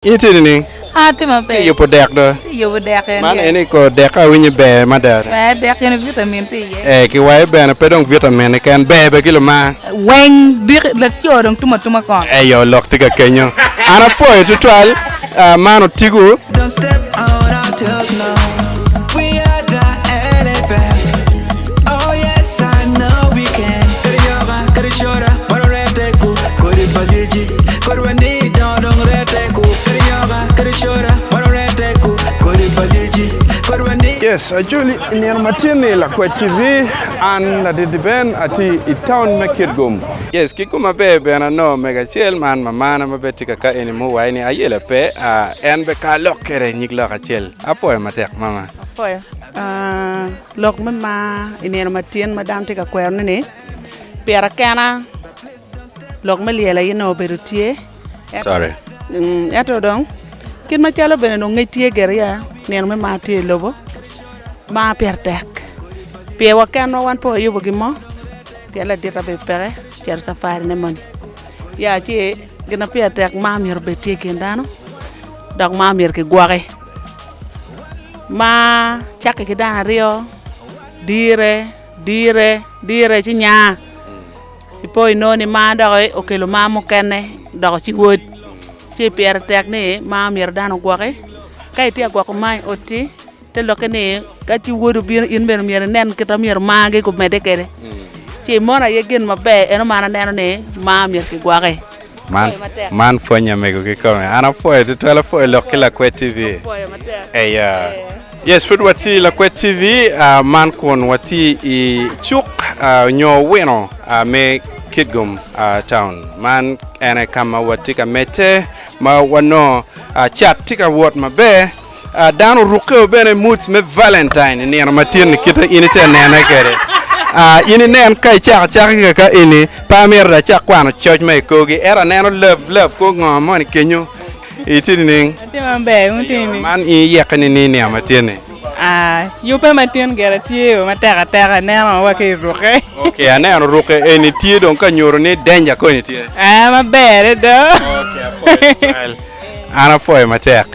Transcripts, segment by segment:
In itye nining? An atye maber. Itye yubo dek do? Atye yubo dek en. Man eni kor dek awinyo ber mada. Ber dek gin vitamin tye iye. Ee ki wai bene pe dong vitamin keken ber bene ki lumar. Weng diki laco dong tum atuma kong. Eyo lok tye ka kenyo. An apwoyo tutwal man otigo. Yes Acholi i nino ma tye ni Lakwed TV an Ladidi Ben atye i town me Kitgum. Yes ki koma ber bene ano mego acel man mamana ma bed tye ka ka eni mo wai ni ayela pe en be ka lok kere nyig lok acel apwoyo matek mama. Apwoyo. Lok me mar i nino ma tyen ma dano tye ka kwerone ni, Pira kena lok me lyel aye nongo obedo tye, ento dong kit macalo bene nongo ngec tye gire ya nino me mar tye i lobo, mar pire tek pi wa kenwa wan pe wayubo gin mo pien ladita bene peke ocito cafari ne moni. Ya ci gin ma pire tek mar myero obed tye i kin dano dok mar myero kigwoki. ma cakke ki dang aryo dire dire dire ci nya i po inongo ni mar dok okelo mar mukene doko ci wod ci pire tek ni mar myero dano ogwoki ka itye ka gwoko mar i oti te lokke ni ka ci wod obino in bene myero inen kit ma myero margi gumedde kwede ci imono aye gin maber eno ma an aneno ni mar myero kigwoki. Man man pwonye mego ki kome. An apwoyo tutwal apwoyo lok ki lakwet TV. Apwoyo matek. Eya. Yes, pud watye i Lakwet TV ah, man kun watye i cuk ah, nyo wino ah, me Kitgum ah, Town. Man ene ka ma watye ka medde ma wanongo ah, cat tye ka wot maber. Dano orukke o bene moods me Valentine i nino matini kite in ite nene kede. Ah, in inen ka icako acaka ki kaka eni, pe amito da acak kwano coc ma i korgi, ento aneno love love kwo ngo moni kenyo iti nining? Atye maber, wun tye nining? Man in iyekke nining i nino matini? Ah, yubbe matin gire tye o matek ateka, ineno wa ka irukke. Ok, aneno orukke eni tye dong ka nyuto ni danger koni tye. Ah, maberre do. Ok, apwoyo tutwal. An apwoyo matek.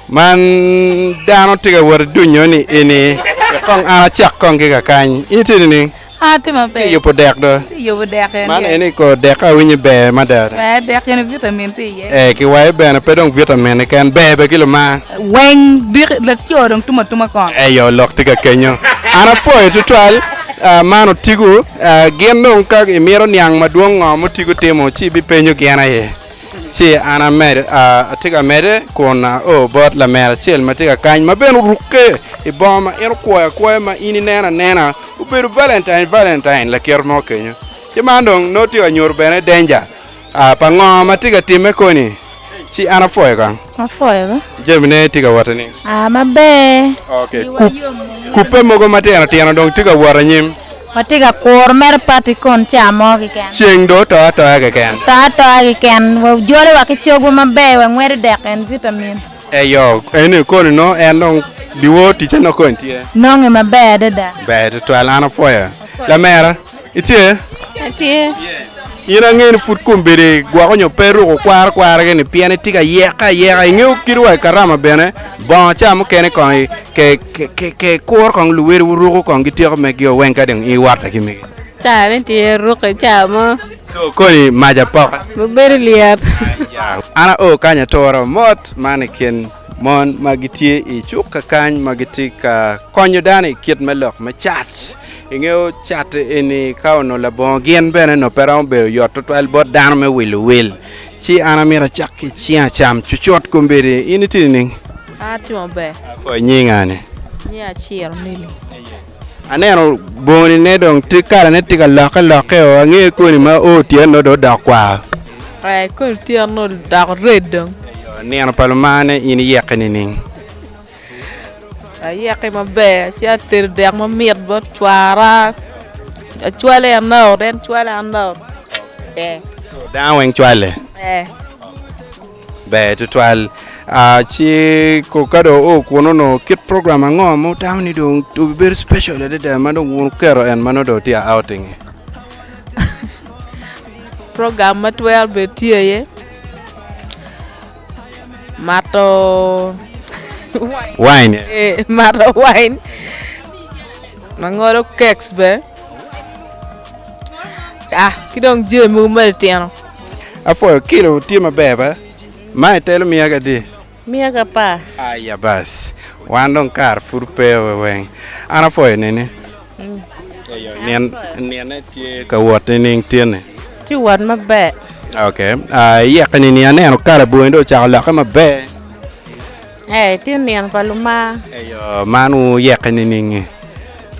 Man dano tye ka wot ki dunyo ni eni kong an acak kong ki kakany. In itye nining? An atye maber. Iyubo dek do? Atye yubo dek en. Man eni kor dek ka awinyo ber mada. Ber dek eni vitamin tye iye. Ee, ki wayo bene pe dong vitamin keken, ber bene ki lumar. Weng dik laco dong tum atuma kong. Eyo lok tye ka kenyo. An apwoyo tutwal man otigo. Gin dong ka imito niang madwong ngo ma otigo timo ci ibipenyo gin aye. ci an amed, a, atye ka mede kun ao bot lamera acel ma tye ka kany ma bene orukke i bongo ma en okwoyo akwoya ma in ineno anena obedo valentine valentine lakit mo kenyo ci man dong nongo tye ka nyuto bene danger a, pa ngo ma tye ka timme koni ci an apwoyo kong. Afoyoga. Jamine tye ka wot nining? Ah, maber. Okay. Kup, kupe mogo matino tino dong tye ka wot anyim. Watye ka kuro mere pati kon ca mo keken. Ceng dong oto atoya keken. To atoya keken. Wajole wa ki cogwa maber, wangwedi dek and vitamin. Eyo, eni koni no en dong biwor ticce nok koni tye? Nonge maber adada. Ber tutwal, an afoyo. Lamera. Itye? Atye. In ange ni pud kombedi gwoko nyo pe ruko kwaro kwaragi ni pien itye ka yek ayeka. Ingeyo kit wa i karama bene bongo ca mukene kong ke, ke, ke, ke kuro kong luweri wuruko kong gityeko megio weng ka dong iwotte ki migi. Ca ne tye ruko ca mo. So koni mac apoka. Bedo lyet. An ao kany atura mot man i kin Mon ma gitye i cukka kany ma gitye ka konyo dano i kit me lok me cat. Ingeyo cat eni ka onongo labongo gin bene onongo pe romo bedo yot tutwal bot dano me wilo wil. Ci an amito acak ki cing acam cucut kombeddi. In itye nining? An atye maber. Apwony nyinga ni? Nyinga Ciro Mili. Aneno boni ne dong tye kala ne tye ka lokke lokke oo ange koni ma oo tyen nongo dong odok kwar. Ee koni tyen nongo odok red dong. Eyo nino pa lumane in iyeke nining? Ayeke maber ci atedo dek mamit bot cwara acwale en out en cwale an out ee. Dano weng cwale? Ee. Ber tutwal. Ah, ci ko ka dong oo kuno no kit program ango ma wutamo ni dong obibedo special adada ma dong wuketo en ma nongo dong tye outing e? Program ma twero bedo tye iye mato Wine. eh, mato wine ma ngolo keks be ah ki dong jami mogo ma litino. Apwoyo kilo tye maber ba. Ma itelo miya ga di. Miya ga par. Aya bas wan dong kare pud pe we weng an apwoyo nini. Eyo nyen nine tye ka wot nining tyeni. Tye wot maber. Okay iyeke nini aneno kala bongi dong ocako lokke maber. Ee, tye nino pa lumar. Eyo, man wuyeke niningi?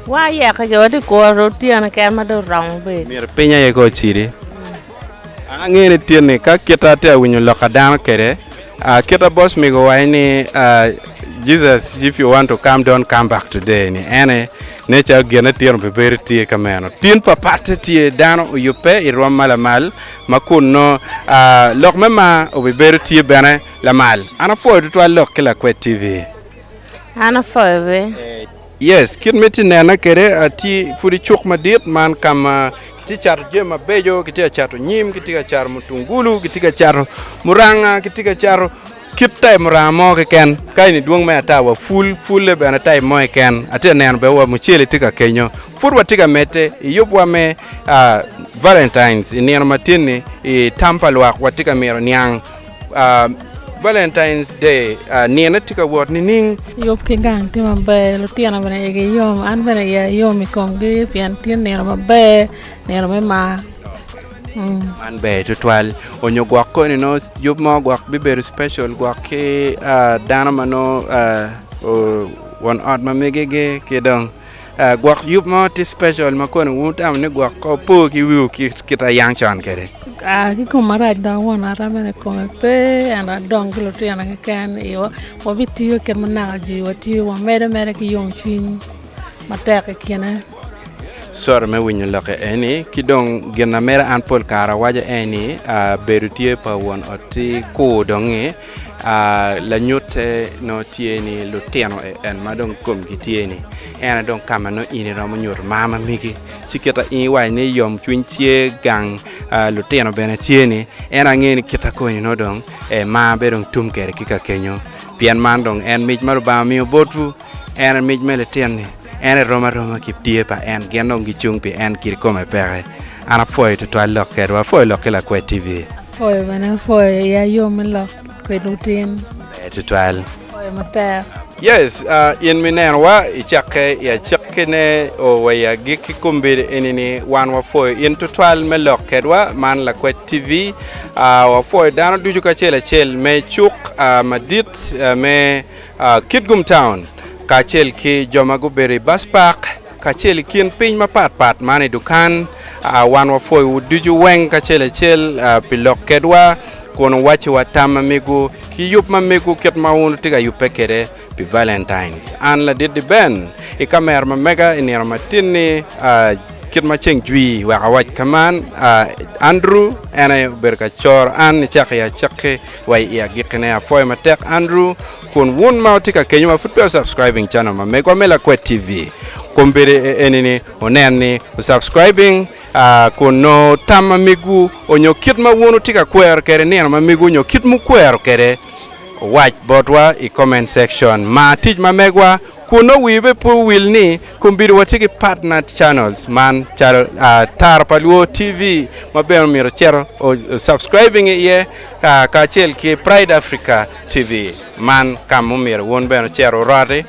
Wayeke ki wati kuru otyeno keken ma dong oromo bedo. Myero piny aye ka ocidi. An angeyo ni tye ni ka kite atye ka winyo lok a dano kede, aa kite boss migo owaci ni aa Jesus if you want to come don't come back today ni ene ne calo gin itino pe bedo tye ka meno tin pa patte tye dano oyubbe irwom ma lamal ma kun nongo aa lok me mar obibedo tye bene Lamal, an apwoyo tutwal lok ki Lakwed TV. An apwoyo bene. Yes, kit ma itye nena kwede, atye pud i cuk madit man ka ma kitye ka cato jami mabeco, kitye ka cato nyim, kitye ka cato mutungulu, kitye ka cato muranga, kitye ka cato kit taip muranga mo keken. Ka eni dwong me ata wa pul, pulle bene taip mo keken. Atye ka neno bene wa mucele tye ka kenyo. Pud watye ka medde i yubwa me Valentine i nino matin-ni i tam pa lwak, watye ka mito niang Valentine's Day nino tye ka wot nining? Yub ki gang tye maber, lutino bene igi yom, an bene iya yom i komgi pien tye nino maber, nino me mar. Mm. Man ber tutwal. Onyo gwok koni nongo yub mo gwok bibedo special gwok ki ah, dano ma nongo ah, o- won ot ma migigi ki dong Gwok yub mo tye special ma koni wu tamo ni gwok ko po ki wiu ki kit a yang con kede? Aa ki kom marac dok won ara mene i kome pe ento adong ki lutino keken i iwa wabitiyo kit ma naka jwi wa tye wamedo mere ki yom cwiny matek i kine. Sorry me winyo lokke eni. Ki dong gin ma medo an pol kare awaco en ni aa bedo tye pa won ot ti kur dong-ngi Lanyutte nongo tye ni lutino en ma dong komgi tye ni en dong ka ma nongo in iromo nyuto mar ma megi ci kit ma in iwaco ni yomcwiny tye gang lutino bene tye ni en ange ni kit ma koni nongo dong mar bedo tum kwede ki ka kenyo pien man dong en mic ma Lubanga omiyo botwu. En e mic me lityen-ni, en e rom aroma ki tye pa en, gin dong gicung pi en kit kome peke. An apwoyo twatwal lok kedwa, apwoyo lok ki Lakwed TV. Apwoyo bene apwoyo ya yo me lok kwed lutin. Ber twatwal. Apwoyo matek. Yes, in mi neno wa i cakke i acakki ne o wa i agikki kombeddi eni ni wan wa pwoyo in twatwal me lok kedwa man Lakwed TV. Wa pwoyo dano ducu kacel acel me cuk madit me Kitgum Town, kacel ki jo ma gubedo i Bus Park, kacel i kin piny mapat pat man i dukan. Wan wapwoyowu ducu weng kacel acel pi lok kedwa kun wuwacciwa tam ma migwu ki yub ma migwu kit ma wun wutye ka yubbe kwede pi Valentines. An Ladidi Ben i kamera ma mega i nino matin-ni, kit ma ceng jwi wek awac ka man, Andrew en aye obedo ka coro an nicakki acakki. Wa i agikkine, apwoyo matek Andrew kun wun ma wutye ka kenyo ma pud peya wu subscribing channel ma Megwa me Lakwet TV, kombeddi e eni ni wunen ni wu subscribing kun nongo tam ma megwu onyo kit ma wun wutye ka kwero kwede nino ma megwu onyo kit mukwero kwede owac botwa i comment section. Mar tic ma megwa. Kun nongo wii be pe owil ni kombido watye ki partner channels man calo Tara pa Luo TV ma bene omyero icito o subscribing iye kacel ki Pride Africa TV man ka ma omyero wun bene wucit wuroti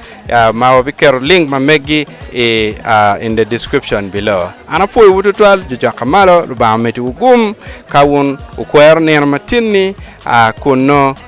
ma wabiketo link ma meggi i in the description below. An apwoyowu tutwal jucoka malo Lubanga omeddi wu gum ka wun wukwero nino matinni kun nongo